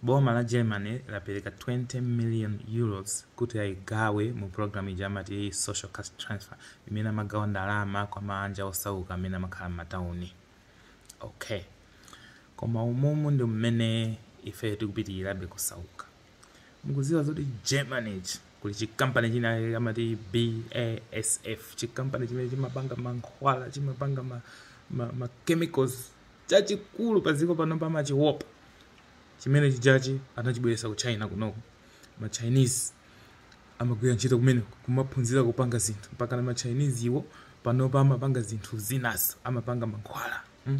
Boma la Germany lapereka 20 million Euros kuti aigawe mu program ija amati Social Cash Transfer imene amagawa ndalama kwa maanja osauka amene amakhala m'matauni. Ok. Koma umumu ndi mmene ifeyo tikupitilirabe kusauka. Mukuziwa zoti Germany kuli chi company china kake amati BASF, chi company chimene chimapanga mankhwala, chimapanga ma chemicals, chachikulu pa dziko pano pa machiwopa chimene chijachi anachibweretsa ku China kunoko ma Chinese amagwira ntchito kumene kumaphunzira kupanga zinthu mpaka na ma Chinese iwo panopa amapanga zinthu zinanso amapanga mankhwala mm.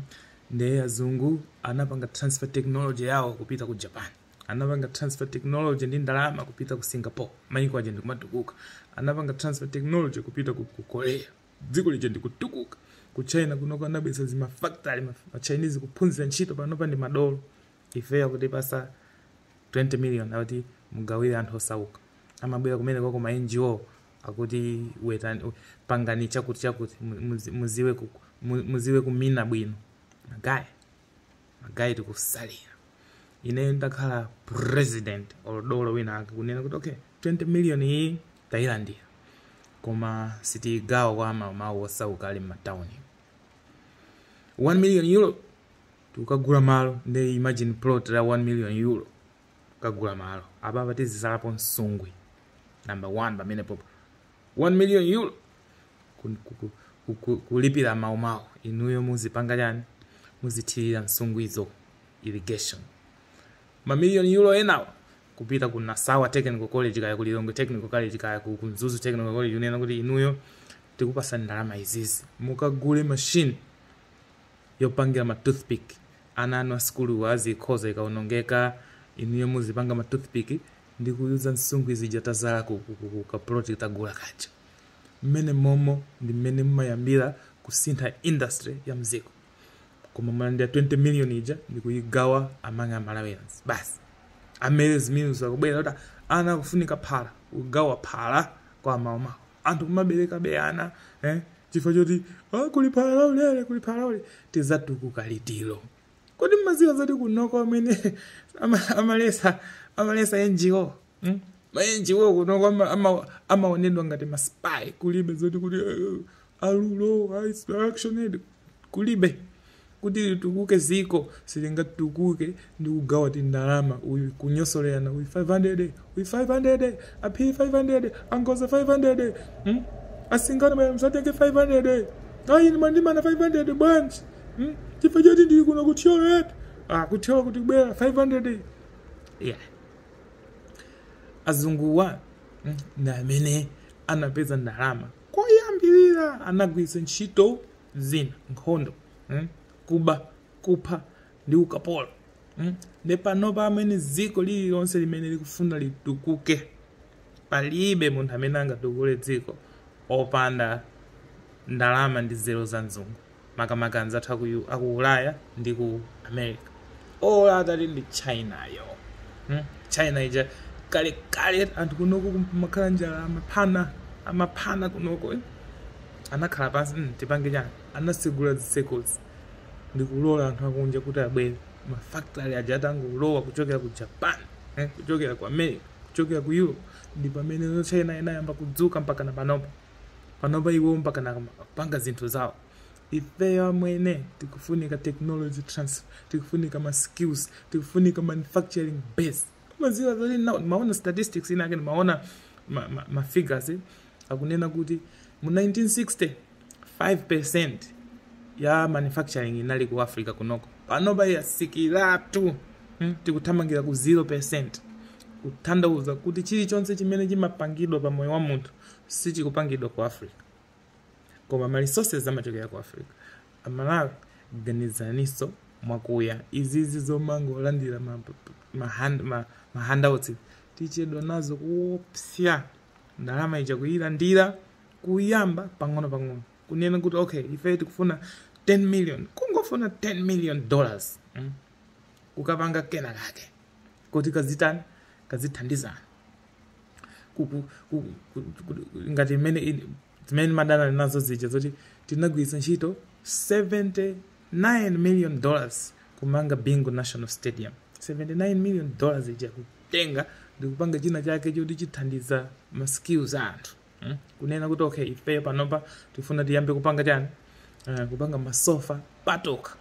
ndiye azungu anapanga transfer technology yawo kupita ku Japan anapanga transfer technology ndi ndalama kupita ku Singapore maiko aja ndikumatukuka anapanga transfer technology kupita ku, ku Korea Dziko lija ndi kutukuka. Ku China kunoko anabweretsa zima factory, ma ma Chinese kuphunzira ntchito panopa ndi madolo. Ifeyo akutipasa 20 million akuti mugawire anthu osauka. Amabwera kumeneko ku ma NGO akuti wetani, we- pangani chakuti chakuti mu- muzi- muziwe ku, mu- muziwe kumina bwino. Magayi, magayi tikusalira. Ine ndakhala president or dolo wina ake kunena kuti okay, 20 million iyi tayilandira koma sitiyigawa kwa amamawu osauka ali m'matawuni 1 million euro tikagula malo nde imagine plot la 1 million euro kagula malo apapa tizizalapo msungwi number 1 pamene popo 1 million euro ku- ku- ku- ku- ku- kulipira amawu amawu inuyo muzipanga chani muzithirira nsungwizo irrigation mamiliyoni euro enawo kupita ku Nasawa Technical College kaya ku Lilongwe Technical College kaya ku ku Mzuzu Technical College kunena kuti inuyo tikupasa ndalama izizi mukagule machine yopangira ma toothpick ana anu asukuluwo azikhoza ikaonongeka inuyo muzipanga ma toothpick ndi kuyuza nsungwi zija tazala ku, ku, ku, ku kapuloti tagula kaja mmene momo ndi mmene mumayambira kusintha industry ya mziko koma mwalandira 20 million ija ndikuyigawa amanga Malawians basi ame- nde zimene zikubwera kuti ana akufunika phala kugawa phala kwa amawuwa anthu kumaberekabe ana eh? chifukwa choti "Ah, kuli phala laulere kuli phala laulere tizatukuka liti kodi mmaziwa zoti kunoko amwene ama- amaletsa amaletsa NGO mm? ma NGO kunoko ama- ama- amaonedwa ngati maspy kulibe zoti kuti eh, alulo ah, it's action aid kulibe kuti litukuke dziko silingatukuke ndi kugawa tindalama uyu kunyosolerana uyu 500 uyu 500 aphi 500 angoza 500 mm? asingana baya msatenge 500 ayi ndimandimana 500 bwanji mm? chifukwa choti ndili kuno kuthyola eti ah, kuthyola kuti kubwera 500 yeah azunguwa mm, ndi amene anapeza ndalama koyambirira anagwiritsa ntchito zina nkhondo mm, kuba kupha ndi ukapolo mm. nde panopa amwene dziko lililonse limene likufuna litukuke palibe munthu amene angatukule dziko opanda ndalama ndi nzeru za mzungu makamaka anzathu aku, U- aku ulaya ndi ku america olo titati ndi china yo hmm? china ija kale kale anthu kunoko kumakhala njala amaphana amaphana kunoko eh? anakhala pansi mm, tipange chani anasegula zitsekozi ndikulola anthu akunja kuti abwere mafactory aja atangolowa kuchokera ku japan eh, kuchokera ku america kuchokera ku europe ndi pamene china inayamba kudzuka mpaka na panopo panopa iwo mpakana kupanga zinthu zawo ifeyo amwene tikufunika technology transfer tikufunika ma skills tikufunika manufacturing base maziwa zoti na- maona statistics inake maona ma, ma, ma figures eh, akunena kuti mu 1960 5% ya manufacturing inali ku africa kunoko panopa yatsikiratu hmm? tikuthamangira ku 0% kuthandauza kuti chilichonse chimene chimapangidwa pa moyo wa munthu sichikupangidwa ku africa koma ma resources amachokera ku africa amalawi ganizaniso mwakuya izizi zomangolandira ma, ma, hand, ma, ma handouts tichedwa nazo kuopsya ndalama ija kuyilandira kuyamba pang'ono pang'ono kunena kuti okay ife tikufuna 10 million kungofuna 10 million dollars mm? kukapanga kena kake kuti kazitani kazithandizana ku- ku- ku- ku- ku- ngati imene ili- zimene ndimadana nazo zija zoti tinagwiritsa ntchito 79 million dollars kumanga bingu national stadium 79 million dollars ija kutenga ndikupanga china chake choti chithandiza ma skills a anthu mm? kunena kuti okay ifeyo panopa tifuna tiyambe kupanga chani uh, kupanga masofa patoka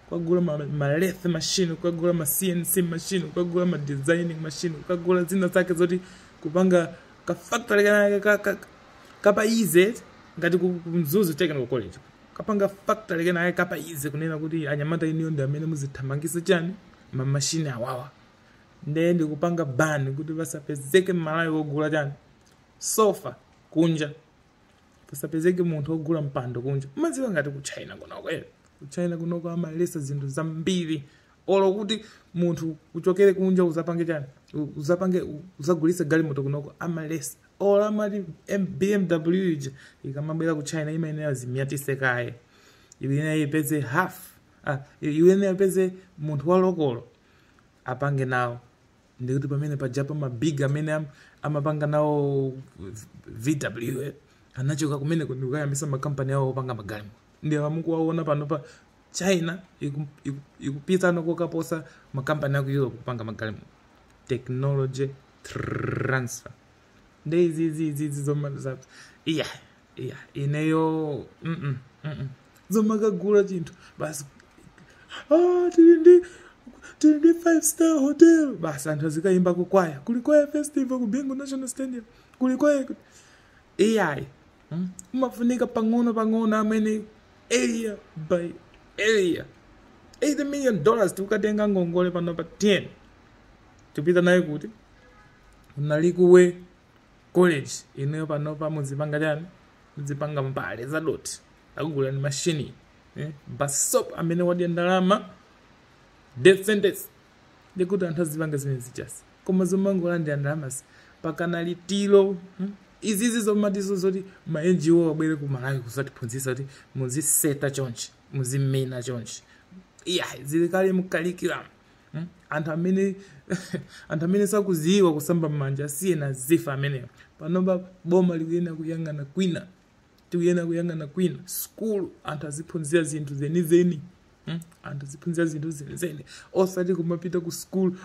kukagula ma, ma lathe machine kukagula ma cnc machine kukagula ma designing machine kukagula zina zake zoti kupanga ka factory kenakake ka, ka, kapa easy ngati ku, ku mzuzu technical college kapanga factory kenakake kapa easy kunena kuti anyamata iniyo ndi amene muzithamangisa chani ma machine awawa ndiye ndikupanga ban kuti pasapezeke mmalawi wogula chani sofa kunja pasapezeke munthu ogula mpando kunja umadziwa ngati ku china kunoko eh? ku china kunoko amalesa zinthu zambiri olo kuti munthu uchokere kunja uzapange chani U- uzapange u- uzagulise galimoto kunoko amalesa olo amati M- bmw ija ikamabwera ku china imayenera izinyatise kaye iyenera ipeze half ah, iyenera ipeze munthu wa lokolo apange nawo ndikuti pamene pajapa mabig amene am, amapanga nawo vw eh, anachoka kumeneko ndikukayambisa makampani awo opanga magalimoto ndiye amukuwaona panopa china iku- iku- ikupitano kokaposa makampani aku europe kupanga magalimoto technology transfer nde izizi izizi zoma za iyayi ineyo mm -mm, mm -mm. zomakagula chinthu basi ah, tili ndi tili ndi five star hotel basi anthu azikayimba kukwaya kuli kwaya festival ku bingu national stadium kuli kwaya ku- iyayi mm? umafunika pang'ono pang'ono mwene area by area 80 million dollars tikukatenga ngongole pano pa 10 tipita nayo kuti unali kuwe college ineyo panopa muzipanga chani mudzipanga mbale zadothi akugulilani mashini eh? basop amene wadya ndalama death sentence ndikuti anthu azipanga zimenezi basi koma zomangolandira ndalamazi mpakana litiro hmm? izizi zomatizo zoti ma ngo abwere ku malawi kuzatiphunzitsa kuti muziseta chonchi muzimina chonchi iyayi zili kale mu curriculum Mm? anthu amene anthu amene sakuziwa kusamba m'manja asiyeni azifa amenewo panopa boma likuyenera kuyang'ana kwina tikuyenera kuyang'ana kwina skulu anthu aziphunzira zinthu zenizeni Mm? anthu aziphunzira zinthu zenizeni osati kumapita ku skulu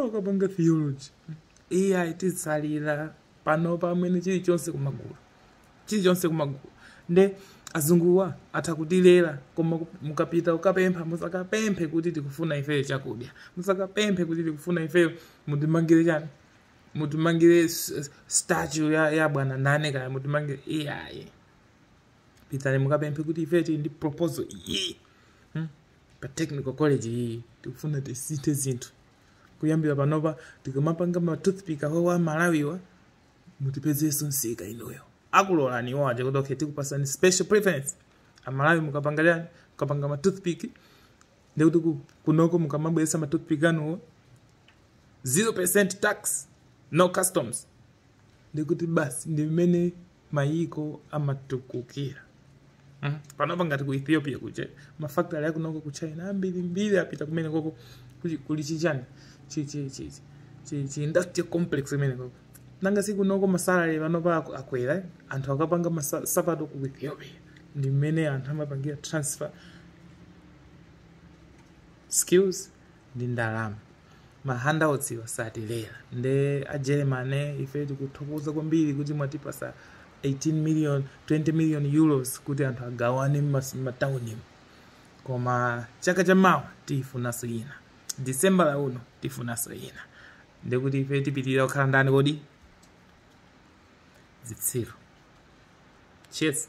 kukapanga theology Mm. iyayi tisalira panopa amwene chilichonse kumagula chilichonse kumagula nde azunguwa atha kutilera koma ku- mukapita kukapempha musakapemphe kuti tikufuna ifeyo chakudya musakapemphe kuti tikufuna ifeyo mutimangire chani mutimangire s- s- statue ya, ya bwana ndani kaya mutimangire iyayi pitani mukapemphe kuti ifeyo tili ndi proposal iyi hmm? pa technical college iyi tikufuna tisinthe zinthu kuyambira panopa tikamapanga ma toothpick awawa amalawiwa mutipezenso msika inuyo akulolani iwo aja kuti okay tikupasani special preference amalawi mukapanga mukapanga ma toothpick ndikuti kunoko mukamabweresa ma toothpick anuwo 0% tax no customs ndikuti basi ndi mmene mayiko amatukukira panopa ngati ku ethiopia kuje mafactory akunoko ku china ambirimbiri apita kumeneko kuli chichani chi industrial complex kumeneko nanga sikunoko masalary panopa akwera anthu akapanga nsapato ku ethiopia ndi mmene anthu amapangira transfer skills ndi ndalama mahandouts osatilera nde ajeremane ife tikuthokoza kwambiri kuti mwatipasa 18 million 20 million euros kuti anthu agawane m'mataunimu koma chaka cha mawa tifunanso ina december ya uno tifunanso ina ndekuti ife tipitilira kukhala ndani kodi zitsiru cheers